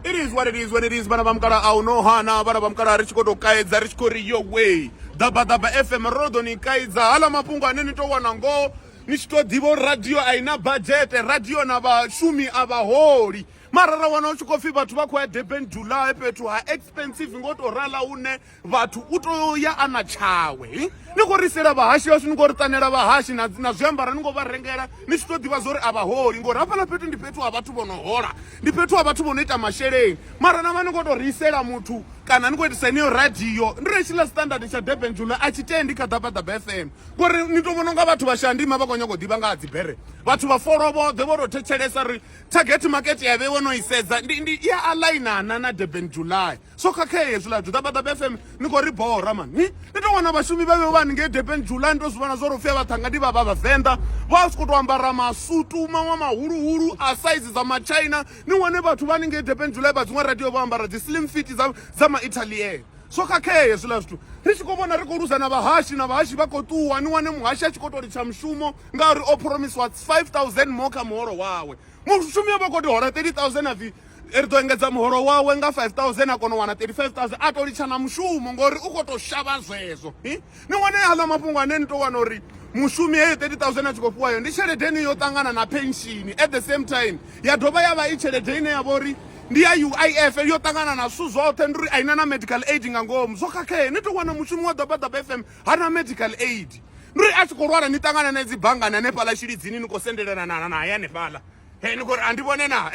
it is what it is when it is vhana vha mukala a u no hana vhana vha mukala ri tshi khou tou kaedza ri tshi khou ri yo way ḓabaḓaba fm ro ḓo ni kaidza hala mafhungo ane ni to wana ngoho ni tshi tou ḓivha uri radio a i na badzhete radio na vhashumi a vhaholi mara ra wana u tshi khou pfhi vhathu vha khou ya durban july fhethu ha expensive ngo tou rala hune vhathu u tea u ya a na tshawe ni khou ri isela vhahashi vhashu ni khou ri ṱanela vhahashi na na zwiambara ni khou vha rengela ni tshi tou ḓivha zwa uri a vha holi ngori hafhaḽa fhethu ndi fhethu ha vhathu vho no hola ndi fhethu ha vhathu vho no ita masheleni mara na vha ni khou tou ri isela muthu kana ni khou itisa heneyo radio ndi ri tshiḽa standard tsha durban jula a tshi tendi kha ḓabaḓaba fm ngori ni tou vhona unga vhathu vha shandima vha khou nyanga u ḓivha nga ha dzibere vhathu vha folo vhoḓhe vho tou thetshelesa ri target market ya vhe wo no isedza ndi ndi i a alainana na durban july so khakhea hezwiḽa juda bada bfm ni khou ri bora mani ni ni tou wana vhashumi vhe vhe vha ni ngei depen july ni tou zwi vhona zwo ri u fia vhaṱhanga ndi vha vha vhavenḓa vha si khou tou ambara masutu maṅwe mahuluhulu a saizi dza machina ni wane vhathu vha ni ngei depen july vha dziṅwe radio vho ambara dzi slim fiti dza, dza maitalier so khakhea hezwiḽa zwithu ri tshi khou vhona ri khou luza na vhahashi na vhahashi vha khou ṱuwa ni wane muhashi a tshi khou tou litsha mushumo ngauri o phoromisiwa 5000 more kha muholo wawe mushumi yo vha khou tou hola 30000 a pfhi ri ḓo engedza muholo wawe nga 5000 a kona u wana 35000 a tou litsha na mushumo ngori u khou tou shavha zwezwo ni wane aḽa mafhungo ane ni tou wana uri mushumi heyo 30000 a tshi khou fhiwayo ndi tshelede ine yo ṱangana na penshini at the same time ya dovha ya vha i tshelede ine ya vha uri ndi ya uif yo ṱangana na zwithu zwoṱhe ndi uri a ina na medical aid nga ngomu zwo khakhee ni tou wana mushumi wa ḓabaḓaba fm ha na medical aid ndi uri a tshi khou lwala ni ṱangana na dzi banngani hanefhaḽa tshilidzini ni khou sendelelana na naye hanefhaḽa he ni khou a ndi vhone na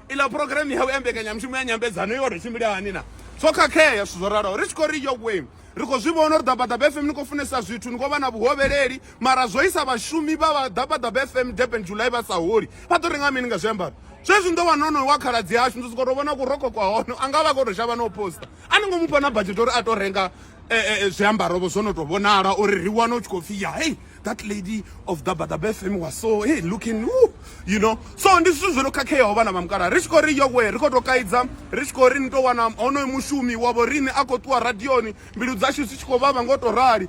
iḽa programme yau ya mbekanyamushumo ya nyambedzano yo ri tshimbile hani na zwo khakhea zwithu zwo ralaho ri tshi khou ri yo way ri khou zwi vhona uri ḓabaḓaba fm ni khou funesa zwithu ni khou vha na vhuhovheleli mara zwo isa vhashumi vha vha ḓabaḓaba fm durban july vha sa holi vha ḓo renga mini nga zwiambaro zwezwi ndo wana onoyo wa khaladzi yashu ndo sokou tou vhona kurokho kwa hono a nga vha khou tou shavha na u posta a ni ngo mu fha na badzhete uri a to renga zwiambarovho zwo no tou vhonala uri ri wane u tshi khou pfhi ya hey that lady of dabadabe fm was so hey looking Ooh, you know so ndi zwithu zwo no khakheaho vhana vha mukala ri tshi khou ri yowe ri khou tou kaidza ri tshi khou ri ni tou wana honoyo mushumi wavho riṋe a khou ṱuwa radioni mbilu dzashu dzi tshi khou vhavha ngo tou rali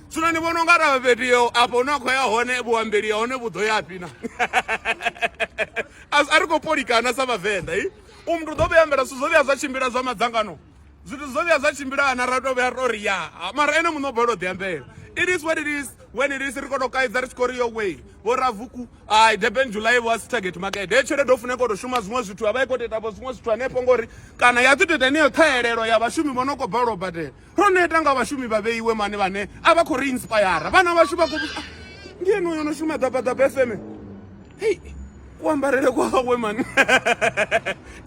zwino ni vhona unga ra fhethu yo afho hune a khou ya hone vhuambeli ya hone vhu ḓo ya fhi na a ri khou polikana sa vhavenḓa i u muthu ḓo vhuya ambela zwithu zwo vhuya zwa tshimbila zwa madzangano zwithu zwo vhuya zwa tshimbila na ra to vhuya to ri ya mara ene muṋe o balelwa ḓi ambela it is what it is when it is ri kono kaidza ri tshi khou ri yo way vho ravuku ai durban july was target market he tshelede o funa ikoto shuma zwiṅwe zwithu a vha i khou teta vho zwiṅwe zwithu hanefho ngori kana ya ḓi to ita heneyo ṱhahelelo ya vhashumi vho no khou balelwa u badela ro neta nga vhashumi vha vheiwe mane vhane a vha khou ri inspire vhana vhashu vha khou ah, ndi ene uyo no shuma ḓabaḓaba fm hei kuambarele kwawe mani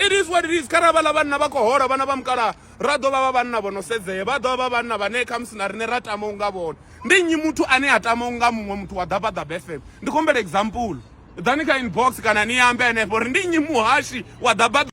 it is what it is kharali vhala vhanna vha khou hola vhana vha mukala ra ḓo vha vha vhanna vho no sedzea vha ḓo vha vha vhanna vhane khamusi na riṋe ra tama u nga vhona ndi nnyi muthu ane a tama u nga muṅwe muthu wa ḓabaḓaba fm ndi khombela example ḓani kha inbox kana ni ambe henefho uri ndi nnyi muhashi wa ḓabaḓa